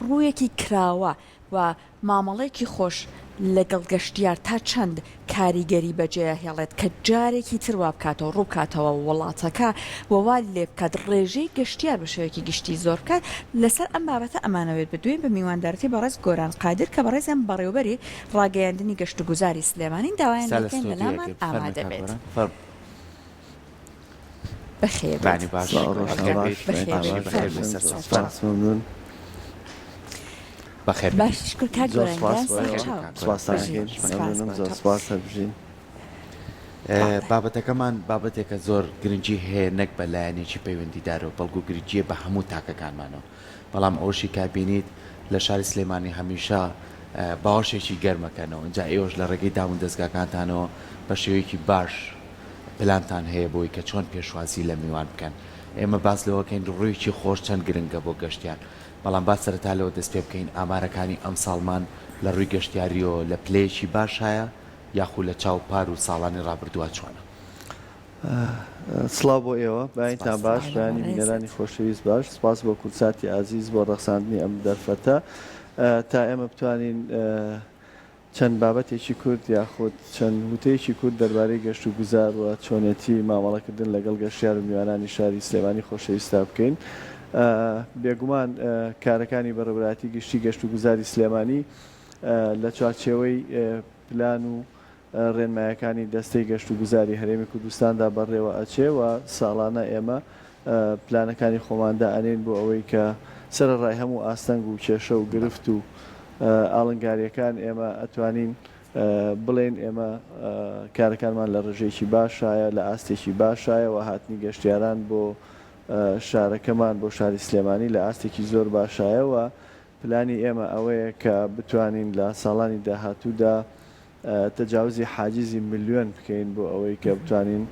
ڕوویەکی کراوە و مامەڵەیەکی خۆش لەگەڵ گەشتیار تا چەند کاریگەری بەجێیهێڵێت کە جارێکی تر وابکاتەوە ڕووبکاتەوە وڵاتەکە و وا لێبکات ڕێژەی گەشتیار بە شێوەیەکی گشتی زۆر بکات، لەسەر ئەم بابەتە ئەمانەوێت بدوێین بە میواندارەتی بەڕێز گۆران قادر کە بەڕێزیان بەڕێوبەری ڕاگەیاندنی گەشتوگوزاری سلێمانین داوایان لێکەین لەلامان ئامادەبێت. بەخێر بێت بابەتەکەمان بابەتێکە زۆر گرنگی هەیە نەک بە لایەنێکی پەیوەندیدارەوە بەڵکو گرنگە بە هەموو تاکەکانمانەوە. بەڵام ئەوەشی کا بینیت لە شاری سلێمانی هەمیشە باوەشێکی گەرمە کەنەوە جا ئێوەش لە ڕێگەی دامو دەزگاکانتانەوە بە شێوەیەکی باش پلانتان هەیە بۆی کە چۆن پێشوازی لە میوان بکەن ئێمە باس لەوەکەین ڕوویکی خۆش چەند گرنگە بۆ گەشتیار بەڵام با سەرەتا لەوە دەست پێ بکەین ئامارەکانی ئەم ساڵمان لە ڕووی گەشتیاریەوە لە پلەیەکی باشایە یاخو لە چاو پار و ساڵانی ڕابردووە چۆنە؟ سڵاو بۆ ئێوە بەیانتان باش بەیانی بینەرانی خۆشەویست باش سپاس بۆ کورساتی ئازیز بۆ ڕەخساندنی ئەم دەرفەتە تا ئێمە بتوانین چەند بابەتێکی کورد یاخود چەند وتەیەکی کورد دەربارەی گەشت و گوزار و چۆنێتی مامەڵەکردن لەگەڵ گەشتیار و میوانانی شاری سلێمانی خۆشەویستا بکەین بێگومان کارەکانی بەڕێبراتی گشتی گەشت و گوزاری سلێمانی لە چوارچێوەی پلان و رێنمایەکانی دەستەی گەشتوگوزاری هەرێمی کوردستاندا بەڕێوە ئەچێ و ساڵانە ئێمە پلانەکانی خۆمان دائەنێین بۆ ئەوەی کە سەرەڕای هەموو ئاستەنگ و کێشە و گرفت و ئاڵنگاریەکان ئێمە ئەتوانین بڵێین ئێمە کارەکانمان لە رێژەیەکی باشایە لە ئاستێکی باشایە و هاتنی گەشتیاران بۆ شارەکەمان بۆ شاری سلێمانی لە ئاستێکی زۆر باشایە و پلانی ئێمە ئەوەیە کە بتوانین لە ساڵانی داهاتوودا تەجاوزی حاجزی ملیۆن بکەین بۆ ئەوەی کە بتوانین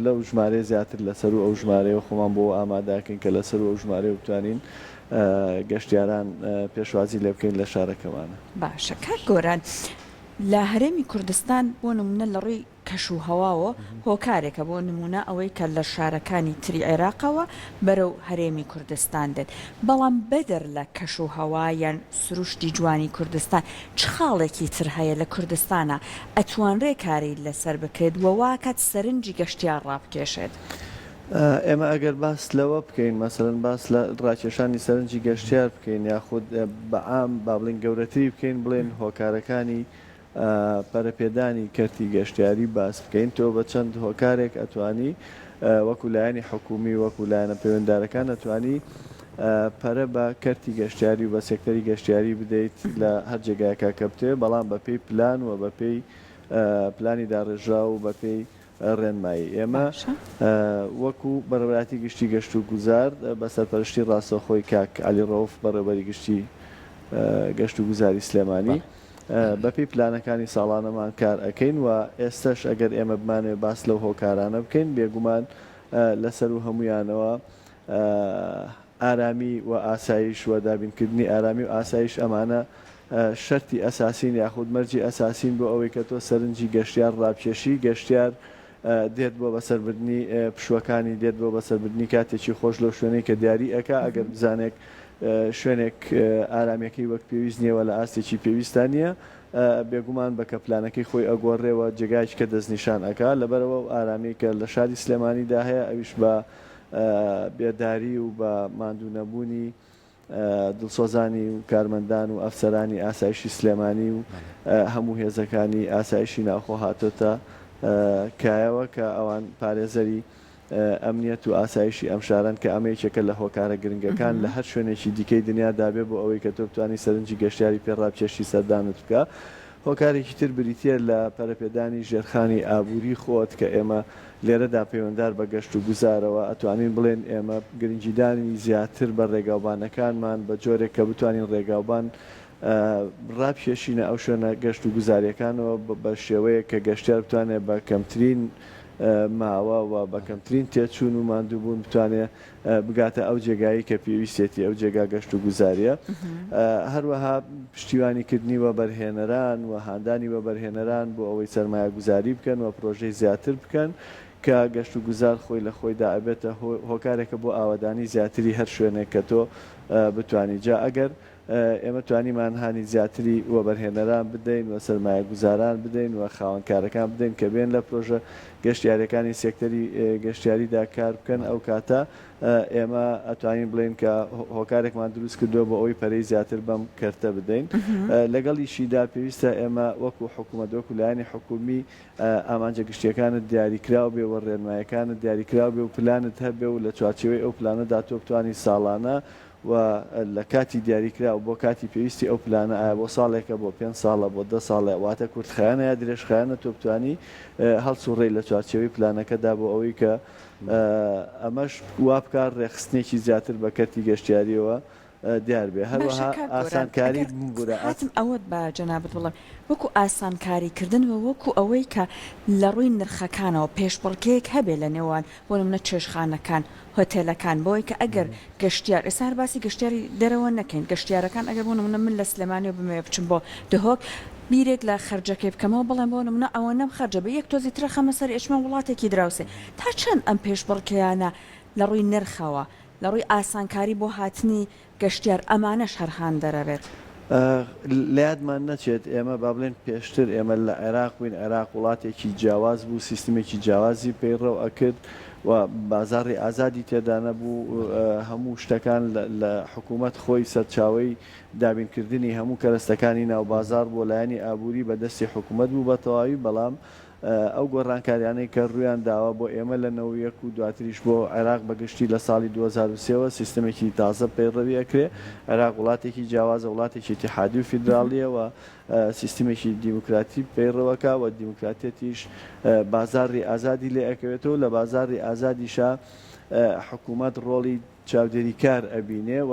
لەو ژمارەیە زیاتر لە سەروو ئەو ژمارەیەوە خۆمان بۆ ئامادەکەین کە لە سەروو ئەو ژمارەیەوە بتوانین گەشتیاران پێشوازی لێ بکەین لە شارەکەمانە. باشە کاک گۆران لە هەرێمی کوردستان بۆ نمونە لە ڕووی کەش و هەواوە هۆکارێکە، بۆ نموونە ئەوەی کە لە شارەکانی تری عێراقەوە بەرەو هەرێمی کوردستان دێت، بەڵام بەدەر لە کەش و هەوا یان سروشتی جوانی کوردستان چ خاڵێکی تر هەیە لە کوردستانا ئەتوانرێ کاری لەسەر بکرێت و واکات سەرنجی گەشتیار ڕابکێشێت؟ ئێمە ئەگەر باس لەوە بکەین مەسەلەن باس لە ڕاکێشانی سەرنجی گەشتیار بکەین یاخود بە عام با بڵێین گەورەتری بکەین بڵێین هۆکارەکانی پەرەپێدانی کەرتی گەشتیاری باس بکەین تۆ بە چەند هۆکارێک ئەتوانی وەکو لایەنی حکومی وەکو لایەنە پەیوەندارەکان ئەتوانی پەرە بە کەرتی گەشتیاری و بە سێکتەری گەشتیاری بدەیت لە هەر جێگایەکا کە بتەوێت بەڵام بە پێی پلان و بە پێی پلانی داڕێژراو و بە پێی ڕێنمایی ئێمە وەکو بەڕێوەبەرایەتی گشتی گەشتوگوزار بە سەرپەرشتی ڕاستەوخۆی کاک عەلی ڕەوف بەڕێوەبەری گشتی گەشتوگوزاری سلێمانی بە پێی پلانەکانی ساڵانەمان کار ئەکەین و ئێستەش ئەگەر ئێمە بمانەوێت باس لەو هۆکارانە بکەین بێگومان لە سەروو هەموویانەوە ئارامی و ئاسایش و دابینکردنی ئارامی و ئاسایش ئەمانە شەرتی ئەساسین یاخود مەرجی ئەساسین بۆ ئەوەی کە تۆ سەرنجی گەشتیار ڕابکێشی گەشتیار دێت بۆ بەسەربردنی پشووەکانی دێت بۆ بەسەربردنی کاتێکی خۆش لەو شوێنەی کە دیاری ئەکا ئەگەر بزانێک شوێنێک ئارامیەکەی وەک پێویست نیە وە لە ئاستێکی پێویستا نیە بێگومان بە کە پلانەکەی خۆی ئەگۆڕێ وە جێگایەکی کە دەستنیشان ئەکا لەبەرئەوە ئەو ئارامیەی کە لە شاری سلێمانیدا هەیە ئەویش بە بێداری و بە ماندوو نەبوونی دڵسۆزانی و کارمەندان و ئەفسەرانی ئاسایشی سلێمانی و هەموو هێزەکانی ئاسایشی ناوخۆ هاتۆتە کایەوە کە ئەوان پارێزەری ئەمنیەت و ئاسایشی ئەم شارەن کە ئەمە یەکێکە لە هۆکارە گرنگەکان لە هەر شوێنێکی دیکەی دنیادا بێ بۆ ئەوەی کە تۆ بتوانی سەرنجی گەشتیاری پێ ڕابکێشی سەردانت بکا هۆکارێکی تر بریتییە لە پەرەپێدانی ژێرخانی ئابووری خۆت کە ئێمە لێرەدا پەیوەندار بە گەشت و گوزارەوە ئەتوانین بڵێن ئێمە گرنگیدانی زیاتر بە ڕێگاوبانەکانمان بە جۆرێک کە بتوانین ڕێگاوبان ڕاکێشینە ئەو شوێنە گەشت و گوزارییەکانەوە بە شێوەیەک کە گەشتیار بتوانێت بە کەمترین ماوە و بە کەمترین تێچوون و ماندووبوون بتوانێت بگاتە ئەو جێگایەی کە پێویستێتی ئەو جێگا گەشت و گوزاریە هەروەها پشتیوانی کردنی وەبەرهێنەران و هاندانی وەبەرهێنەران بۆ ئەوەی سەرمایە گوزاری بکەن و پرۆژەی زیاتر بکەن کە گەشت و گوزار خۆی لە خۆیدا ئەبێتە هۆکارێکە بۆ ئاوەدانی زیاتری هەر شوێنێک کە تۆ بتانی جا ئەگەر ئێمە توانیمان هانی زیاتری وەبەرهێنەران بدەین و سەرمایەگوزاران بدەین و خاوەن کارەکان بدەین کە بێن لە پرۆژە گەشتیاریەکانی سێکتەری گەشتیاریدا کار بکەن ئەو کاتە ئێمە ئەتوانین بڵێین کە هۆکارێکمان دروست کردوە بۆ ئەوەی پەرەی زیاتر بەم کەرتە بدەین لەگەڵیشیدا پێویستە ئێمە وەکو حکومەت وەکو لایەنی حکومی ئامانجە گشتیەکانت دیاریکراو بێ و رێنمایەکانت دیاریکراو بێ و پلانت هەبێ و لە چوارچێوەی ئەو پلانەدا تۆ بتوانی ساڵانە و لە کاتی دیاریکراو بۆ کاتی پێویستی ئەو پلانە ئایا بۆ ساڵێکە بۆ پێنج ساڵە بۆ دە ساڵە واتە کورتخایەنە یا درێژخایەنە تۆ بتوانی هەڵسوڕێی لە چوارچێوەی پلانەکەدا بۆ ئەوەی کە ئەمەش وابکا ڕێکخستنێکی زیاتر بە کەرتی گەشتیاریەوە دیاربێ هەروەها ئاسانکاری بورە ئاسم ئەوەت بە جەنابت بڵێ وەکو ئاسانکاری کردن و وەکو ئەوەی کە لە ڕووی نرخەکانەوە پێشبڕکێک هەبێ لە نێوان بۆ نمونە چێشتخانەکان، هۆتێلەکان، بەوەی کە ئەگەر گەشتیار، ئێستا هەر باسی گەشتیاری دەرەوە نەکەین، گەشتیارەکان ئەگەر بۆ نمونە من لە سلێمانیەوە بمەوێ بچم بۆ دهۆک، بیرێک لە خەرجەکەی بکەمەوە بڵێم بۆ نمونە ئەوەنەم خەرجە، بە یەک تۆزی ترە خەمە سەری ئەچمە وڵاتێکی دراوسێ، تا چەند ئەم پێشبڕکێیانە لە ڕووی نرخەوە، لە ڕووی ئاسانکاری بۆ هاتنی. گەشتیار، ئەمانەش هەر هاندەرەێت. لە یادمان نەچێت ئێمە با بڵێین پێشتر ئێمە لە عێراق بووین، عێراق وڵاتێکی جیاواز بوو، سیستمێکی جیاوازی پەیڕەو ئەکرد و بازاڕی ئازادی تێدا نەبوو، هەموو شتەکان لە حکوومەت خۆی سەرچاوەی دابینکردنی هەموو کەرەستەکانی ناو بازاڕ بۆ لایەنی ئابووری بە دەستی حکوومەت بوو بە تەواوی، بەڵام ئەو گۆڕانکاریانەی کە ڕوویان داوە بۆ ئێمە لە نەوەد و یەک و دواتریش بۆ عێراق بە گشتی لە ساڵی دوو هەزار و سێ وە سیستەمێکی تازە پەیڕەوی ئەکرێ عێراق وڵاتێکی جیاوازە وڵاتێکی ئیتیحادی و فیدراڵیە و سیستەمێکی دیموکراتی پەیڕەوەکا و دیموکراتیەتیش بازاڕی ئازادی لێ ئەکەوێتەوە لە بازاڕی ئازادیشا حکومەت ڕۆڵی چاودێری کار ئەبینێ و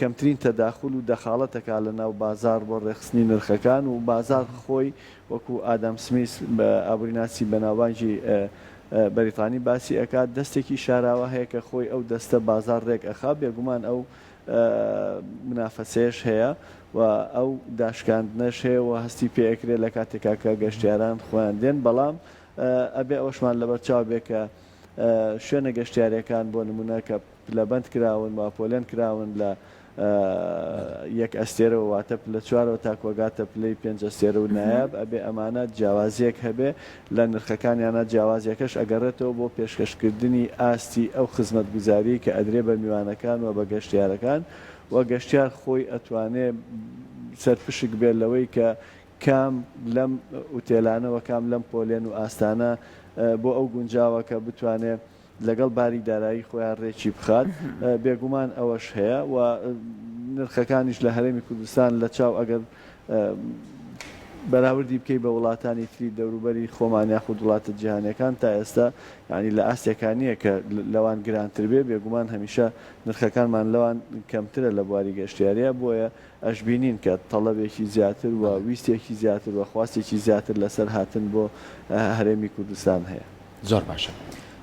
کەمترین تەداخول و دەخاڵەت ئەکا لە ناو بازاڕ بۆ ڕێکخستنی نرخەکان و بازاڕ خۆی وەکو ئادام سمیس ئابوریناسی بەناوبانگی بەریتانی باسی ئەکات دەستێکی شاراوە هەیە کە خۆی ئەو دەستە بازاڕ ڕێک ئەخا بێگومان ئەو منافەسەیەش هەیە و ئەو داشکاندنەش هەیە و هەستی پێ ئەکرێ لە کاتێکا کە گەشتیاران خۆیان دێن بەڵام ئەبێ ئەوەشمان لەبەرچاو بێ کە شوێنە گەشتیارییەکان بۆ نموونە کە پلەبەند کراون و پۆلێن کراون لە یەک ئەستێرەوە واتە پلە چوارەوە تاکوو ئەگاتە پلەی پێنج ئەستێرە و نایاب ئەبێ ئەمانە جیاوازییەک هەبێ لە نرخەکانیانا جیاوازییەکەش ئەگەڕێتەوە بۆ پێشکەشکردنی ئاستی ئەو خزمەتگوزارییەی کە ئەدرێ بە میوانەکان و بە گەشتیارەکان و گەشتیار خۆی ئەتوانێ سەرپشک بێ لەوەی کە کام لەم ئوتێلانە و کام لەم پۆلێن و ئاستانە بۆ ئەو گونجاوە کە بتوانێ لەگەڵ باری دارایی خۆیان رێکی بخات، بێگومان ئەوەش هەیە و نرخەکانیش لە هەرێمی کوردستان لە چاو ئەگەر بەراوردی بکەی بە وڵاتانی تری دەوروبەری خۆمان یاخود وڵاتە جیهانیەکان تا ئێستا یانی لە ئاستێکا نیە کە لەوان گرانتر بێ، بێگومان هەمیشە نرخەکانمان لەوان کەمترە لە بواری گەشتیاریا بۆیە ئەشبینین کە تەڵەبێکی زیاتر و بەڵێ. ویستێکی زیاتر و خواستێکی زیاتر لەسەر هاتن بۆ هەرێمی کوردستان هەیە. زۆر باشە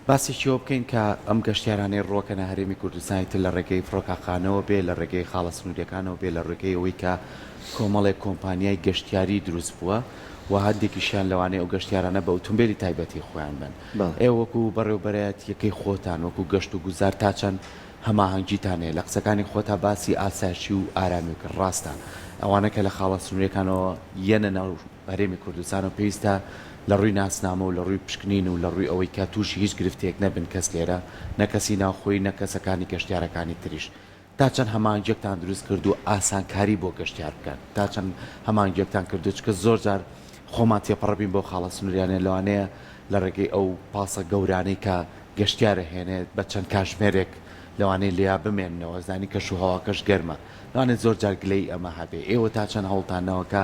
باسێکی ئەوە بکەین کە ئەم گەشتیارانەی ڕووەکەنە هەرێمی کوردستانی تر لە ڕێگەی فڕۆکاخانەوە بێ لە ڕێگەی خاڵە سنوریەکانەوە بێ لە ڕێگەی ئەوەی کە کۆمەڵێک کۆمپانیای گەشتیاری دروست بووە و هەندێکیشیان لەوانەیە ئەو گەشتیارانە بە ئوتومبێلی تایبەتی خۆیان بن. بەڵێ. ئێوە وەکو بەڕێوبەرایەتیەکەی خۆتان وەکو گەشت و گوزار تا چەند هەماهەنگیتان هەیە لە قسەکانی خۆتا باسی ئاسایشی و ئارامی کرد ڕاستە ئەوانە کە لە خاڵە سنوریەکانەوە یەنە ناو هەرێمی کوردستان و پێویستە لە ڕووی ناسنامە و لە ڕووی پشکنین و لە ڕووی ئەوەی کە توشی هیچ گرفتێک نەبن کەس لێرە نە کەسی ناوخۆی نە کەسەکانی گەشتیارەکانی تریش تا چەند هەماهەنگیەکتان دروست کردو ئاسانکاری بۆ گەشتیار بکەن تا چەند هەماهەنگیەکتان کردو چکە زۆر جار خۆمان تێپەڕبین بەو خاڵە سنوریانە لەوانەیە لە ڕێگەی ئەو پاسە گەورانەی کە گەشتیار ئەهێنێت بە چەند کاژمێرێک لەوانەیە لێیا بمێننەوە زانی کەش و هەواکەش گەرمە لەوانێت زۆر جار گلەیی ئەمە هەبێ ئێوە تا چەند هەوڵتان نەوە کە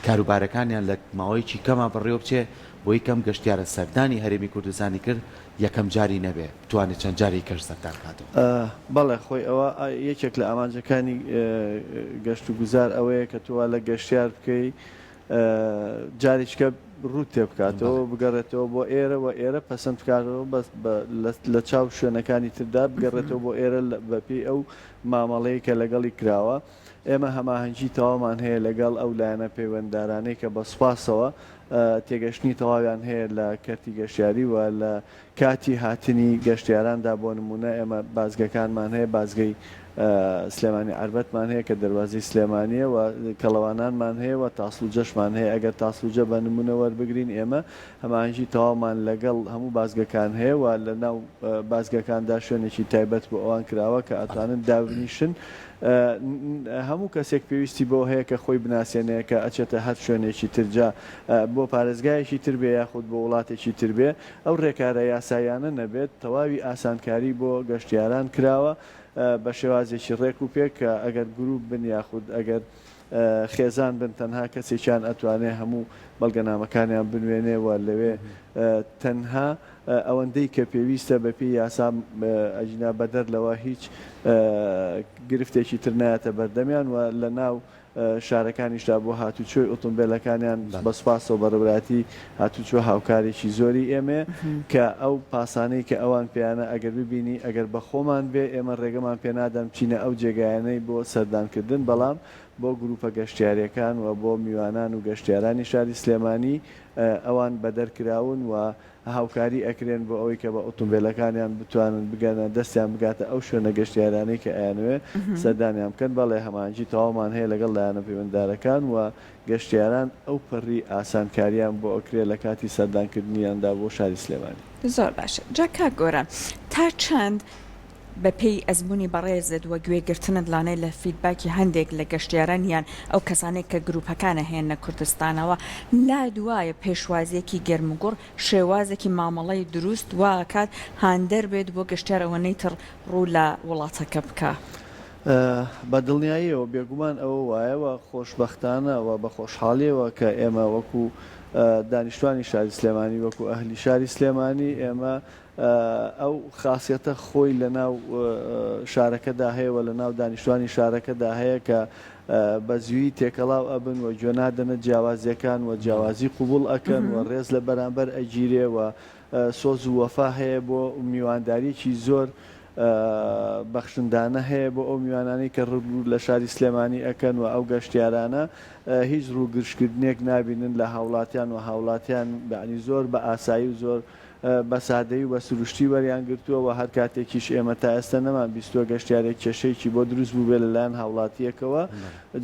کاروبارەکانیان لە ماوەیەکی کەما بەڕێوە بچێ بۆی کەم گەشتیارە سەردانی هەرێمی کوردستانی کرد یەکەم جاری نەبێ بتوانێ چەند جارێکی کەش سەردان کاتەوە. بەڵێ خۆی ئەوە یەکێک لە ئامانجەکانی گەشت و گوزار ئەوەیە کە تۆ وا لە گەشتیار بکەی جارێکیکە ڕووت تێ بکاتەوە بگەڕێتەوە بۆ ئێرە و ئێرە پەسەند بکاتەوە بەس لە چاو شوێنەکانی تردا بگەڕێتەوە بۆ ئێرە بەپێی ئەو مامەڵەیە کە لەگەڵی کراوە ئێمە هەماهەنگی تەوامان هەیە لەگەڵ ئەو لایەنە پەیوەنددارانەی کە بە سپاسەوە تێگەشتنی تەواویان هەیە لە کەرتی گەشتیاری و لە کاتی هاتنی گەشتیاراندا بۆ نموونە ئێمە بازگەکانمان هەیە، بازگەی سلێمانی عەربەتمان هەیە کە دەروازەی سلێمانییە و کەڵەوانانمان هەیە و تاسڵوجەشمان هەیە، ئەگەر تاسڵوجە بە نموونە وەربگرین ئێمە هەماهەنگی تەواومان لەگەڵ هەموو بازگەکان هەیە و لە ناو بازگەکاندا شوێنێکی تایبەت بۆ ئەوان کراوە کە ئەتوانن دابنیشن هەموو کەسێک پێویستی بەوە هەیە کە خۆی بناسێنێ کە ئەچێتە هەر شوێنێکی تر جا بۆ پارێزگایەکی تر بێ یاخود بۆ وڵاتێکی تر بێ ئەو رێکارە یاساییانە نەبێت، تەواوی ئاسانکاری بۆ گەشتیاران کراوە بە شێوازێکی رێک و پێک کە ئەگەر گروپ بن یاخود ئەگەر خێزان بن تەنها کەسێکیان ئەتوانێ هەموو بەڵگەنامەکانیان بنوێنێ و لەوێ تەنها ئەوەندەی کە پێویستە بە پێی یاسا ئەگینا بەدەر لەوە هیچ گرفتێکی تر نایەتە بەردەمیان و لە ناو شارەکانیشدا بۆ هاتوچۆی ئۆتۆمبێلەکانیان بە سوپاسەوە بەڕێوەبەرایەتی هاتوچۆ هاوکارێکی زۆری ئێمەیە کە ئەو پاسانەی کە ئەوان پێیانە ئەگەر ببینی ئەگەر بە خۆمان بێ ئێمە ڕێگەمان پێ نادەن بچینە ئەو جێگایانەی بۆ سەردان کردن بەڵام بۆ گروپە گەشتیاریەکان و بۆ میوانان و گەشتیارانی شاری سلێمانی ئەوان بەدەر کراون و هاوکاری ئەکرێن بۆ ئەوەی کە بە ئۆتۆمبێلەکانیان بتوانن بگەنە دەستیان بگاتە ئەو شوێنە گەشتیارانەی کە ئەیانەوێ سەردانیان بکەن، بەڵێ هەماهەنگی تەواومان هەیە لەگەڵ لایەنە پەیوەنددارەکان و گەشتیاران ئەو پەڕی ئاسانکاریان بۆ ئەکرێ لە کاتی سەردانکردنیاندا بۆ شاری سلێمانی. زۆر باشە جا کاک گۆران تا چەند بە پێی ئەزموونی بەڕێزت و گوێ گرتنت لانێ لە فیدباکی هەندێک لە گەشتیاران یان ئەو کەسانەی کە گرووپەکان ئەهێننە کوردستانەوە لات وایە پێشوازییەکی گەرموگوڕ شێوازێکی مامەڵەی درووست وا ئەکات هاندەر بێت بۆ گەشتیار ئەوەنەی تر ڕوو لە وڵاتەکە بکا؟ بە دڵنیاییەوە بێگومان ئەوە وایە و خۆشبەختانە و بە خۆشحاڵییەوە کە ئێمە وەکوو دانیشتوانی شاری سلێمانی وەکوو ئەهلی شاری سلێمانی ئێمە ئەو خاسیەتە خۆی لە ناو شارەکەدا هەیە و لە ناو دانیشتوانی شارەکەدا هەیە کە بە زویی تێکەڵاو ئەبن و گوێ نادەنە جیاوازیەکان و جیاوازی قوبوڵ ئەکەن و ڕێز لە بەرامبەر ئەگیرێ و سۆز و وەفا هەیە بۆ میوانداریەکی زۆر بەخشندانە هەیە بۆ ئەو میوانانەی کە ڕوو لە شاری سلێمانی ئەکەن و ئەو گەشتیارانە هیچ ڕوو گرژکردنێک نابینن لە هاوڵاتیان و هاوڵاتیان یانی زۆر بە ئاسایی و زۆر بە سادەیی و بە سروشتی وەریان گرتووە و هەر کاتێکیش ئێمە تا ئێستە نەمان بیستووە گەشتیارێک کێشەیەکی بۆ دروست بووبێت لە لایەن هاوڵاتییەکەوە.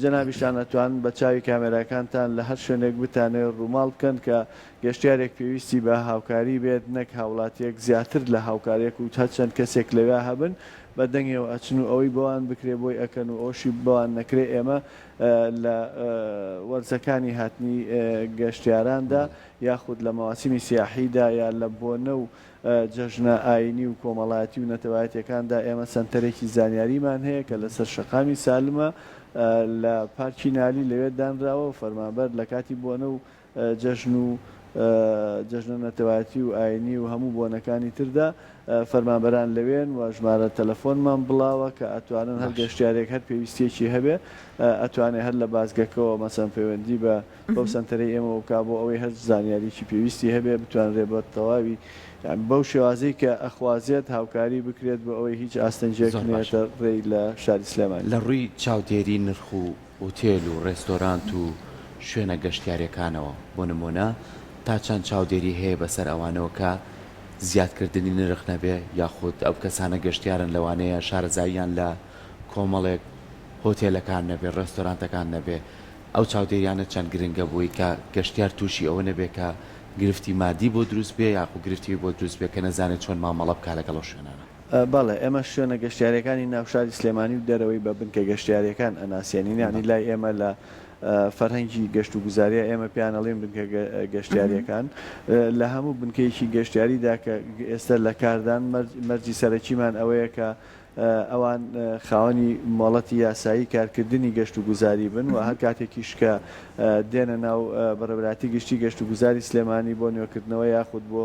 جەنابیشتان ئەتوانن بە چاوی کامێراکانتان لە هەر شوێنێک بتانەوێت ڕووماڵ بکەن کە گەشتیارێک پێویستی بە هاوکاری بێت نەک هاوڵاتییەک زیاتر لە هاوکارییەک و هەر چەند کەسێک لەوێ هەبن بە دەنگێوە ئەچن و ئەوەی بۆوان بکرێت بۆی ئەکەن و ئەوەشی بۆوان نەکرێت ئێمە لە وەرزەکانی هاتنی گەشتیاراندا یاخود لە مەواسیمی سیاحیدا یا لە بۆنە و جەژنە ئاینی و کۆمەڵایەتی و نەتەوایەتیەکاندا ئێمە سەنتەرێکی زانیاریمان هەیە کە لەسەر شەقامی سالمە لە پارکی نالی لەوێ دانراوە و فەرمانبەر لە کاتی بۆنە و جەژن و جەژنە نەتەوایەتی و ئاینی و هەموو بۆنەکانی تردا فەرمانبەران لەوێن و ژمارە تەلەفۆنمان بڵاوە کە ئەتوانن هەر گەشتیارێک هەر پێویستیەکی هەبێ ئەتوانێ هەر لە بازگەکەوە مەسەن پەیوەندی بە بەو سەنتەرەی ئێمەوە بکا بۆ ئەوەی هەر زانیاریەکی پێویستی هەبێ بتوانرێ بە تەواوی بەو شێوازەی کە ئەخوازێت هاوکاری بکرێت بۆ ئەوەی هیچ ئاستەنگێک نەیەتە ڕێی لە شاری سلێمانی. لە ڕووی چاودێری نرخ و ئوتێل و ڕێستۆرانت و شوێنە گەشتیاریەکانەوە بۆ نموونە تا چەند چاودێری هەیە بەسەر ئەوانەوە کە زیادکردنی نرخ نەبێ یاخود ئەو کەسانە گەشتیارن لەوانەیە شارەزاییان لە کۆمەڵێک هۆتێلەکان نەبێ ڕێستۆرانتەکان نەبێ ئەو چاودێریانە چەند گرنگە بۆی کە گەشتیار تووشی ئەوە نەبێت کە گرفتی مادی بۆ دروست بێت یاخو گرفتی وی بۆ دروست بێت کە نەزانێت چۆن مامەڵە بکات لەگەڵ ئەو شوێنانە. بەڵێ ئێمە شوێنە گەشتیاریەکانی ناو شاری سلێمانی و دەرەوەی بە بنکە گەشتیاریەکان ئەناسێنین یانی لای ئێمە لە فەرهەنگی گەشت و گوزاریا ئێمە پێیان ئەڵێین بنکە گەشتیاریەکان لە هەموو بنکەیەکی گەشتیاریدا کە ئێستا لە کاردان مەرجی سەرەکیمان ئەوەیە کە ئەوان خاوەنی مۆڵەتی یاسایی کارکردنی گەشتوگوزاری بن و هەر کاتێکیش کە دێنە ناو بەڕێوەبەرایەتی گشتی گەشتوگوزاری سلێمانی بۆ نوێکردنەوە یاخود بۆ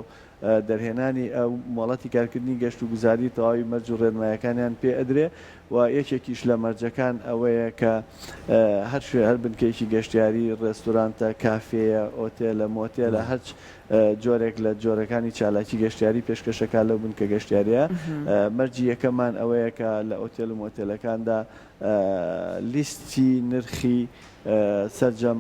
دەرهێنانی ئەو مۆڵەتی کارکردنی گەشتوگوزاری تەواوی مەرج و رێنمایەکانیان پێ ئەدرێ و یەکێکیش لە مەرجەکان ئەوەیە کە هەر شوێ هەر بنکەیەکی گەشتیاری، رێستورانتە، کافێیە، ئۆتێلە، مۆتێلە، هەرچ جۆرێک لە جۆرەکانی چالاکی گەشتیاری پێشکەش دەکات لەو بنکە گەشتیارییە. مەرجی یەکەممان ئەوەیە کە لە ئۆتێل و مۆتێلەکاندا لیستی نرخی سەرجەم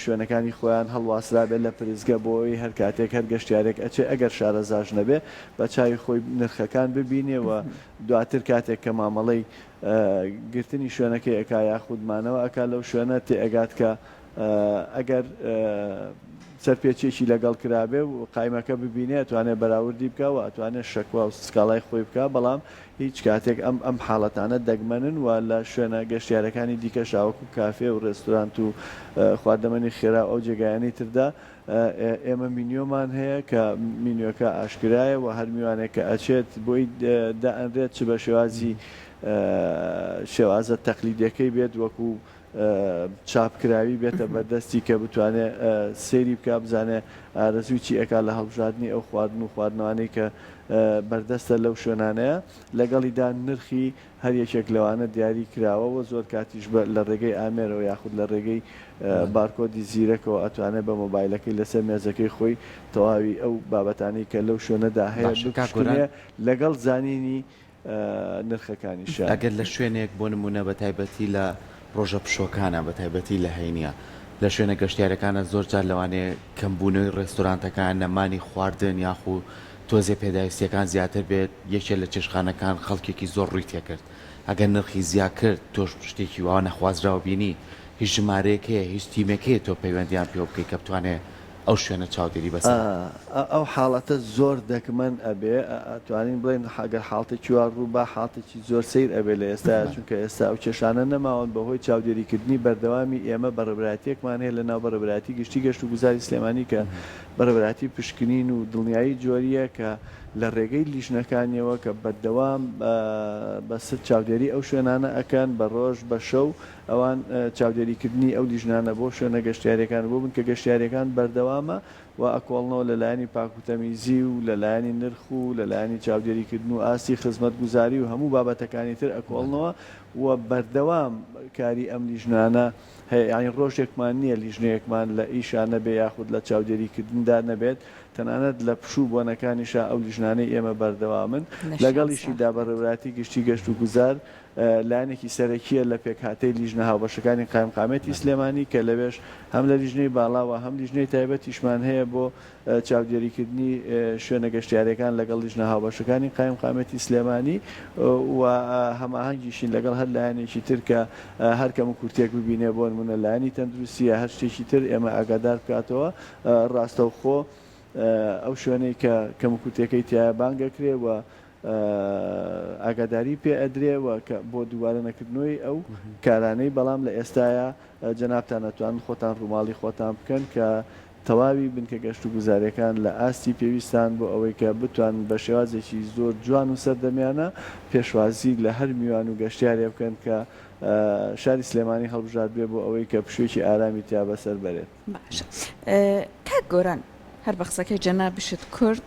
شوێنەکانی خۆیان هەڵواسرابێت لە پرسگە بۆ ئەوەی هەر کاتێک هەر گەشتیارێک ئەچێ ئەگەر شارەزاش نەبێ بە چاوی خۆی نرخەکان ببینێ و دواتر کاتێک کە مامەڵەی گرتنی شوێنەکەی ئەکا یاخود مانەوە ئەکا لەو شوێنە تێئەگات کە ئەگەر سەرپێچیەکی لەگەڵ کرابێ و قایمەکە ببینێ ئەتوانێ بەراوردی بکا و ئەتوانێ شەکوا و سکاڵای خۆی بکا بەڵام هیچ کاتێک ئەم ئەم حاڵەتانە دەگمەنن و لە شوێنە گەشتیارەکانی دیکە شاوەکو کافێ و ڕێستورانت و خواردەمەنی خێرا و ئەو جێگایانی تردا ئێمە مینیۆمان هەیە کە مینیۆکە ئاشکرایە و هەر میوانێک کە ئەچێت بۆی دائەنرێت چ بە شێوازی شێوازە تەقلیدەکەی بێت وەکو چاپکراوی بێتە بەردەستی کە بتوانێ سەیری بکا بزانێ ئارەزووی چی ئەکا لە هەڵبژاردنی ئەو خواردن و خواردنەوانەی کە بەردەستە لەو شوێنانەیە لەگەڵیدا نرخی هەر یەکێک لەوانە دیاری کراوە وە زۆر کاتیش بە لە ڕێگەی ئامێرەوە یاخود لە ڕێگەی بارکۆدی زیرەکەوە ئەتوانێ بە مۆبایلەکەی لەسەر مێزەکەی خۆی تەواوی ئەو بابەتانەی کە لەو شوێنەدا هەیە باشە کاک گۆران. بکوشتنێ لەگەڵ زانینی نرخەکانیشە. ئەگەر لە شوێنێک بۆ نموونە بە تایبەتی لە ڕۆژە پشۆکانە بە تایبەتی لە هەینییە لە شوێنە گەشتیارەکانە زۆر جار لەوانەیە کەمبوونەوەی ڕێستۆرانتەکان نەمانی خواردن یاخو تۆزێ پێداویستیەکان زیاتر بێت یەکێ لە چێشخانەکان خەڵکێکی زۆر ڕووی تێکرد ئەگەر نرخی زیا کرد تۆش شتێکی وا نەخوازراو بینی هیچ ژمارەیەک هەیە هیچ تیمێک هەیە تۆ پەیوەندیان پێوە بکەی کە بتوانێ ئەو شوێنە چاودێری بەسەرە. ئا ئەو حاڵەتە زۆر دەگمەن ئەبێ ئا توانین بڵێین گەر حاڵتێکی وا ڕوو با حاڵتێکی زۆر سەیر ئەبێ لە ئێستایا چونکە ئێستا ئەو کێشانە نەماون بە هۆی چاودێری کردنی بەردەوامی ئێمە بەڕێبەرایەتیەکمان هەیە لە ناو بەڕێبەرایەتی گشتی گەشت و گوزاری سلێمانی کە بەڕێبەرایەتی پشکنین و دڵنیایی جۆریە کە لە ڕێگەی لیژنەکانیەوە کە بەردەوام بە ست چاودێری ئەو شوێنانە ئەکەن بە ڕۆژ بە شەو ئەوان چاودێریکردنی ئەو لیژنانە بۆ شوێنە گەشتیارییەکان بۆ بنکە گەشتیارییەکان بەردەوامە و ئەکۆڵنەوە لە لایەنی پاکوتەمیزی و لە لایەنی نرخ و لە لایەنی چاودێریکردن و ئاستی خزمەتگوزاری و هەموو بابەتەکانی تر ئەکۆڵنەوە و بەردەوام کاری ئەم لیژنانە هەیە یانی ڕۆژێکمان نییە لیژنەیەکمان لە ئیشا نەبێ یاخود لە چاودێریکردندا نەبێت تەنانەت لە پشوو بۆنەکانیشا ئەو لیژنانەی ئێمە بەردەوامن لەگەڵیشیدا بەڕێوراتی گشتی گەشت و گوزار لایەنێکی سەرەکییە لە پێکهاتەی لیژنە هاوبەشەکانی قایمقامیەتی سلێمانی کە لەوێش هەم لە لیژنەی باڵا وە هەم لیژنەی تایبەتیشمان هەیە بۆ چاودێریکردنی شوێنە گەشتیارەکان لەگەڵ لیژنە هاوبەشەکانی قایمقامیەتی سلێمانی و هەماهەنگیشین لەگەڵ هەر لایەنێکی تر کە هەر کەم و کورتێک ببینێ بۆنمونە لایەنی تەندروستی یا هەر شتێکی تر ئێمە ئاگادار بکاتەوە ڕاستەوخۆ ئەو شوێنەی کە کەم و کورتێکەی تیایە بانگەکرێ وە ئاگاداری پێ ئەدرێ و کە بۆ دووبارە نەکردنەوەی ئەو کارانەی بەڵام لە ئێستایا جەنابتان ئەتوانن خۆتان ڕووماڵی خۆتان بکەن کە تەواوی بنکە گەشت و گوزارەکان لە ئاستی پێویستان بۆ ئەوەی کە بتوانن بە شێوازێکی زۆر جوان و سەردەمیانە پێشوازی لە هەر میوان و گەشتیارێ بکەن کە شاری سلێمانی هەڵبژاردبێ بۆ ئەوەی کە پشوێکی ئارامی تیا بەسەر بەرێت. باشە کاک گۆران هەر بە قسەکەی جەنابیشت کورد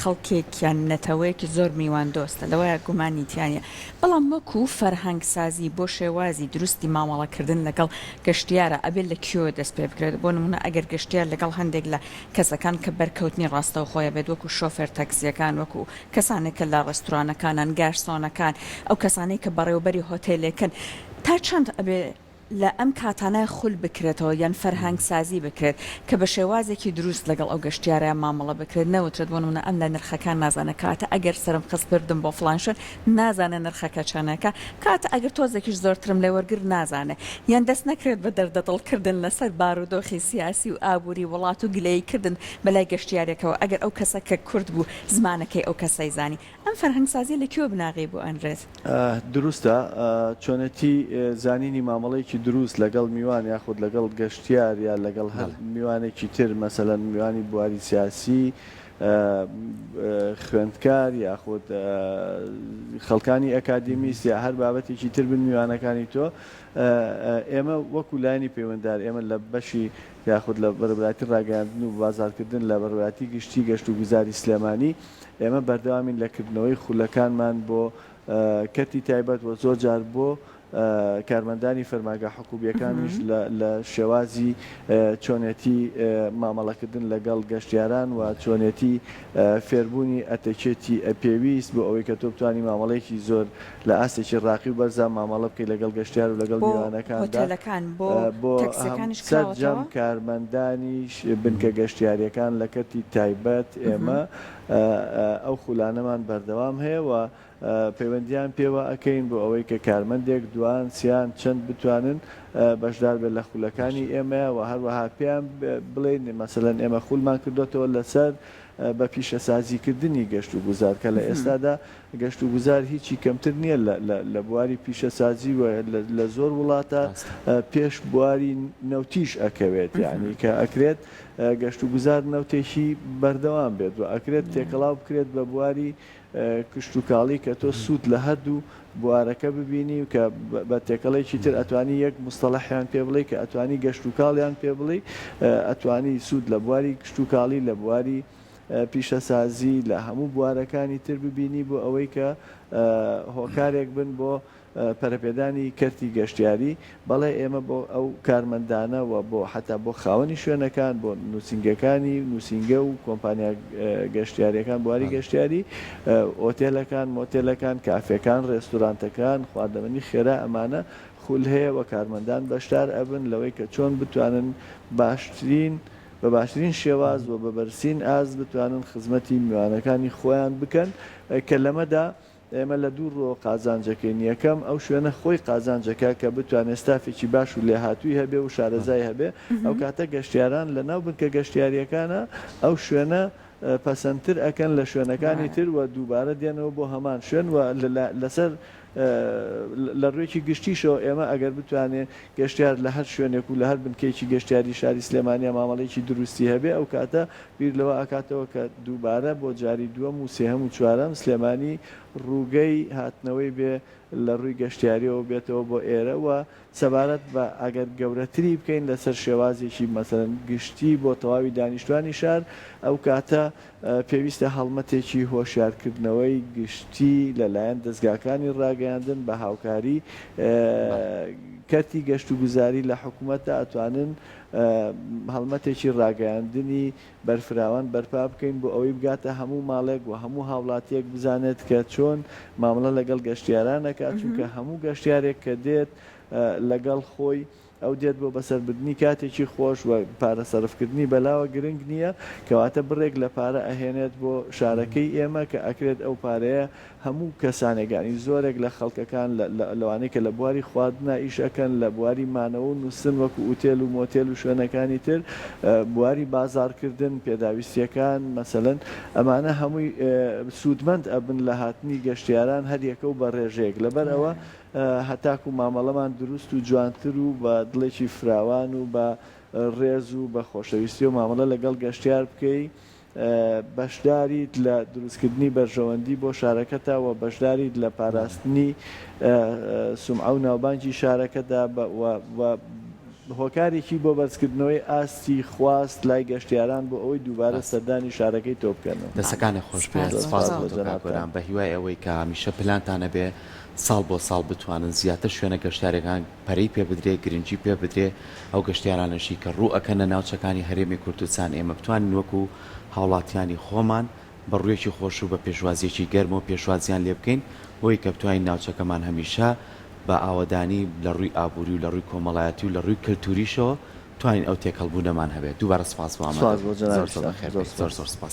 خەڵکێکیان نەتەوەیەکی زۆر میوان دۆستە لەوەیە گومانی تیانە بەڵام وەکو فەرهەنگسازی بۆ شێوازی دروستی مامەڵەکردن لەگەڵ گەشتیارە ئەبێت لە کیۆ دەست پێ بکرێت بۆ نمونە ئەگەر گەشتیار لەگەڵ هەندێک لە کەسەکان کە بەرکەوتنی ڕاستەو خۆیە بێت وەکو شۆفێر تەکسیەکان وەکو کەسانێک کە لە ڕێستورانەکانان گارسۆنەکان ئەو کەسانەی کە بەڕێوبەری هۆتێلێکن تا چەند ئەبێ لە ئەم کاتانە خول بکرێتەوە یان فەرهەنگ سازی بکرێت کە بە شێوازێکی دروست لەگەڵ ئەو گەشتیارە مامەڵە بکرێت نەوترێت بۆ نمونە ئەم لە نرخەکان نازانە کاتە ئەگەر سەرم خست بردم بۆ فڵان شوێن نازانێ نرخەکە چەنەکە کاتە ئەگر تۆزێکیش زۆرترم لێ وەرگرت نازانێ یان دەست نەکرێت بە دەردە دڵ کردن لە سەر بارودۆخی سیاسی و ئابوری وڵات و گلەیی کردن بە لای گەشتیارێکەوە ئەگەر ئەو کەسە کە کورد بوو زمانەکەی ئەو کەسەی زانی ئەم فەرهەنگسازیە لە کوێ و بناغەی بۆ ئەنرێت؟ دروستە چۆنێتی زانینی مامەڵەیەکی دروست لەگەڵ میوان یاخود لەگەڵ گەشتیار یا لەگەڵ هەر بەڵێ. میوانێکی تر مەسەلەن میوانی بواری سیاسی، خوێندکار یاخود خەڵکانی ئەکادیمیست یا هەر بابەتێکی تر بن میوانەکانی تۆ ئێمە وەکو لایەنی پەیوەندار ئێمە لە بەشی یاخود لە بەرەبراتی ڕاگەیاندن و بازاڕکردن لە بەڕبراتی گشتی گەشت و گوزاری سلێمانی ئێمە بەردەوامین لە کردنەوەی خولەکانمان بۆ کەرتی تایبەت و زۆر جار بۆ کارمەندانی فەرماگە حکوبیەکانیش لە شێوازی چۆنێتی مامەڵەکردن لەگەڵ گەشتیاران و چۆنێتی فێربوونی ئەتەکێتی ئەپێویست بۆ ئەوەی کە تۆ بتانی مامەڵێکی زۆر لە ئاستێکی ڕاقی و بەرزان مامەڵە بکەی لەگەڵ گەشتیار و لەگەڵ میوانەکاندا بۆ سەرجەم کارمەندانیش بنکە گەشتیاریەکان لە کەرتی تایبەت ئێمە ئەو خولانەمان بەردەوام هەیە و پەیوەندیان پێوە ئەکەین بۆ ئەوەی کە کارمەندێک دوان سیان چەند بتوانن بەشدار بێت لە خولەکانی ئێمەیە و هەروەها پێیان بڵێین مەسەلەن ئێمە خولمان کردۆتەوە لەسەر بە پیشەسازی کردنی گەشت و گوزار کە لە ئێستادا گەشتوگوزار هیچی کەمتر نییە لە بواری پیشەسازی و لە زۆر وڵاتە پێش بواری نەوتیش ئەکەوێت یانی کە ئەکرێت گەشتوگوزار نەوتێکی بەردەوام بێت و ئەکرێت تێکەڵاو بکرێت بە بواری کشتوکاڵی کە تۆ سوود لە هەردوو بوارەکە ببینی و کە بە تێکەڵێکی تر ئەتوانی یەک مستەڵەحیان پێ بڵێی کە ئەتوانی گەشتوکاڵیان پێ بڵێی ئەتوانی سوود لە بواری کشتوکاڵی لە بواری پیشەسازی لە هەموو بوارەکانی تر ببینی بۆ ئەوەی کە هۆکارێک بن بۆ پەرەپێدانی کەرتی گەشتیاری، بەڵێ ئێمە بۆ ئەو کارمەندانە و بۆ حەتا بۆ خاوەنی شوێنەکان بۆ نووسینگەکانی نووسینگە و کۆمپانیا گەشتیاریەکان بواری گەشتیاری ئۆتێلەکان مۆتێلەکان کافێکان ڕێستورانتەکان خواردەمەنی خێرا ئەمانە خول هەیە و کارمەندان بەشدار ئەبن لەوەی کە چۆن بتوانن باشترین بە باشترین شێواز و بە بەرزترین ئاست بتوانن خزمەتی میوانەکانی خۆیان بکەن کە لەمەدا ئێمە لە دوو ڕووەوە قازانجەکەین، یەکەم، ئەو شوێنە خۆی قازانجەکە کە بتوانێت ستافێکی باش و لێهاتووی هەبێ و شارەزای هەبێ، ئەو کاتە گەشتیاران لە ناو بنکە گەشتیارییەکانە ئەو شوێنە پەسەندتر ئەکەن لە شوێنەکانی تر و دووبارە دێنەوە بۆ هەمان شوێن و لەسەر لە ڕوویەکی گشتیشەوە ئێمە ئەگەر بتوانێ گەشتیار لە هەر شوێنێک و لە هەر بنکەیەکی گەشتیاری شاری سلێمانیا مامەڵەیەکی دروستی هەبێ ئەو کاتە بیر لەوە ئەکاتەوە کە دووبارە بۆ جاری دووەم و سێهەم و چوارەم سلێمانی ڕووگەی هاتنەوەی بێ لە ڕووی گەشتیاریەوە بێتەوە بۆ ئێرە و سەبارەت بە ئەگەر گەورەتری بکەین لەسەر شێوازێکی مەسەلەن گشتی بۆ تەواوی دانیشتوانی شار، ئەو کاتە پێویستە هەڵمەتێکی هۆشیارکردنەوەی گشتی لەلایەن دەزگاکانی ڕاگەیاندن بە هاوکاری کەرتی گەشتوگوزاری لە حکومەت ئەتوانن هەڵمەتێکی ڕاگەیاندنی بەرفراوان بەرپا بکەین بۆ ئەوەی بگاتە هەموو ماڵێک و هەموو هاوڵاتییەک بزانێت کە چۆن مامەڵە لەگەڵ گەشتیاران ئەکات چونکە هەموو گەشتیارێک کە دێت لەگەڵ خۆی ئەو دێت بۆ بەسەربردنی کاتێکی خۆش و پارە سەرفکردنی بەلاوە گرنگ نییە کەواتە بڕێک لە پارە ئەهێنێت بۆ شارەکەی ئێمە کە ئەکرێت ئەو پارەیە هەموو کەسانێک یانی زۆرێک لە خەڵکەکان لەوانەی کە لە بواری خواردنا ئیش ئەکەن لە بواری مانەوە و نوستن وەکو ئوتێل و مۆتێل و شوێنەکانی تر بواری بازاڕ کردن پێداویستیەکان مەسەلەن ئەمانە هەمووی سوودمەند ئەبن لە هاتنی گەشتیاران هەر یەکە و بە ڕێژەیەک لەبەر ئەوە هەتاکو مامەڵەمان دروست و جوانتر و بە دڵێکی فراوان و بە ڕێز و بە خۆشەویستی و مامەڵە لەگەڵ گەشتیار بکەی بەشداریت لە دروستکردنی بەرژەوەندی بۆ شارەکەتە وە بەشداریت لە پاراستنی سومعە و ناوبانگی شارەکەدا بە وە هۆکارێکی بۆ بەرزکردنەوەی ئاستی خواست لای گەشتیاران بۆ ئەوەی دووبارە سەردانی شارەکەی تۆ بکەن. دەستەکانت خۆش بێت، سپاس بۆ تۆ کاک گۆران، بە هیوای ئەوەی کە هەمیشە پلانتان هەبێت ساڵ بۆ ساڵ بتوانن زیاتر شوێنە گەشتیارەکان. پەرەی پێ بدرێ، گرنگی پێ بدرێ، ئەو گەشتیارانەشی کە ڕوو ئەکەنە ناوچەکانی هەرێمی کوردستان ئێمە بتوانین وەکو هاوڵاتیانی خۆمان بە ڕوویەکی خۆش و بە پێشوازیەکی گەرمەوە پێشوازیان لێ بکەین بۆوەی کە بتوانین ناوچەکەمان هەمیشە بە ئاوەدانی لە ڕووی ئابووری و لە ڕووی کۆمەڵایەتی و لە ڕووی کەلتوریشەوە بتوانین ئەو تێکەڵبوونەمان هەبێ دووبارە سپاس بۆ ئامادەبوونت زۆر زۆر بەخێربێیت زۆر زۆر سپاس.